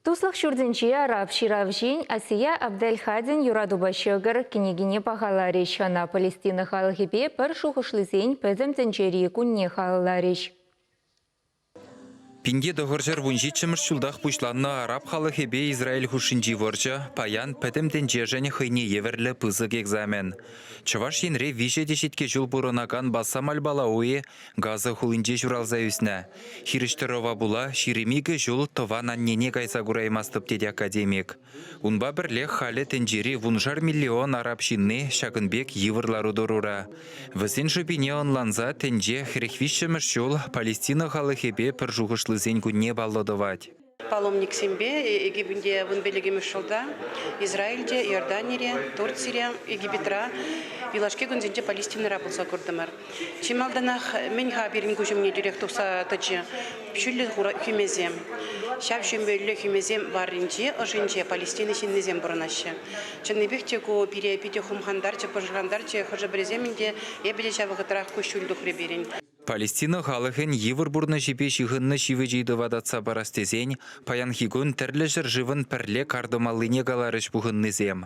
Туслӑх ҫуртӗнче Рав ҫыравҫин Асия Абделхадин юратупа ҫӑкӑр кӗнекине пахаларӗҫ. Ӑна Палестина халӑхӗпе пӗр шухӑшлисен пӗтӗм тӗнчери кунне халалларӗҫ. Пинте тӑхӑрҫӗр вунҫиччӗмӗш ҫултах пуҫланнӑ араб халӑхӗпе Израиль хушшинчи вӑрҫӑ, паян пӗтӗм тӗнчешӗн хӑйне евӗрлӗ пысӑк экзамен. Чӑваш Енре виҫӗ теҫетке ҫул пурӑнакан Бассам аль-Балауи Газа хулинче ҫуралса ӳснӗ. Хирӗҫ тӑрӑва пула ҫирӗм икӗ ҫул тӑван аннене кайса кураймастӑп тет академик. Унпа пӗрлех халӗ тӗнчери вуншар миллион араб ҫынни ҫакӑн пек йывӑр лару-тӑрура. Вӗсен шӑпине ӑнланса тӗнче хӗрӗх виҫҫӗмӗш ҫул Палестина халӑхӗпе пӗр шухӑшлисен кунне паллӑ тӑвать. Паломниксемпе Египетте вун пиллӗкмӗш ҫулта, Израильте, Иорданире, Турцире, Египетра юлашки кунсенче Палестинӑра пулса куртӑмӑр. Чи малтанах мӗн-ха пирӗн куҫ умне тӳрех тухса тӑчӗ? Ҫӳллӗ хӳмесем. Ҫав ҫӳмбеллӗ хӳмесем варринче, ӑшӗнче Палестина ҫыннисем пурӑнаҫҫӗ. Чӑннипех те ку пире питӗ хумхантарчӗ, пӑшӑрхантарчӗ. Хӑшӗ-пӗрисем ӗнтӗ, Эпӗ те ҫав вӑхӑтрах куҫҫуль тухрӗ пирӗн. Палестина халӑхӗн йывӑр пурнӑҫӗпе ҫыхӑннӑ ҫивӗч ыйтӑва татса парас тесен паянхи кун тӗрлӗ ҫӗршывӑн пӗрле кар тӑмаллине каларӗҫ пухӑннисем.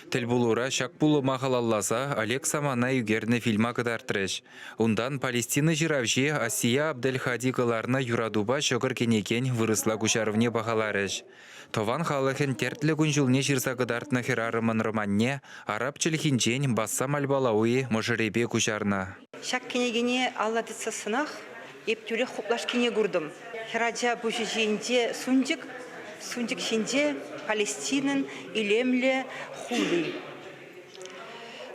Тӗлпулура ҫак пулӑма халалласа Олег Самана ӳкернӗ фильма кӑтартрӗҫ. Унтан Палестина ҫыравҫи Асия Абдельхади кӑларнӑ юратупа ҫӑкӑр кӗнекен вырӑсла куҫарӑвне пахаларӗҫ. Тӑван халӑхӗн тертлӗ кун-ҫулне ҫырса кӑтартнӑ хӗрарӑмӑн романне араб чӗлхинчен Бассам аль-Балауи мӑшӑрӗпе куҫарнӑ. Ҫак кӗнекене алла тытсассӑнах эп тӳрех хуплашкине куртӑм. Хӗрача пуҫӗ ҫинче сунчӑк, сунчӑк ҫинче Палестинӑн илемлӗ хули.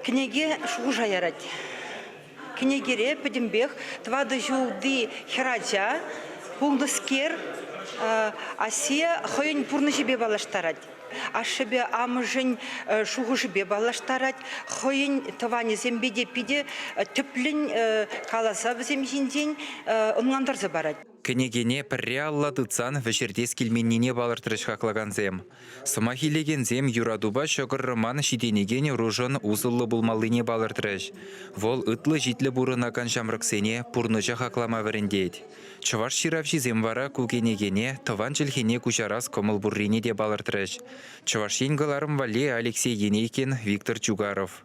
Кӗнеке шухӑша ярать. Кӗнекере пӗтӗмпех тӑватӑ ҫулти хӗрача, пулнӑскер, Асия хӑйӗн пурнӑҫӗпе паллаштарать. Ашшӗпе амӑшӗн шухӑшӗпе паллаштарать, хӑйӗн тӑванӗсемпе те питӗ тӗплӗн каласа вӗсем ҫинчен ӑнлантарса парать. Кӗнекене пӗрре алла тытсан вӗҫертес килменнине палӑртрӗҫ хаклакансем. Сӑмах илекенсем юратупа ҫӑкӑр роман ҫитӗнекен ӑрушӑн усӑллӑ пулмаллине палӑртрӗҫ. Вӑл ытлӑ-ҫитлӗ пурӑнакан ҫамрӑксене пурнӑҫа хаклама вӗрентет. Чӑваш ҫыравҫисем вара ку кӗнекене тӑван чӗлхене куҫарас кӑмӑл пуррине те палӑртрӗҫ. Чӑваш Ен кӑларӑм валли Алексей Енейкин, Виктор Чугаров.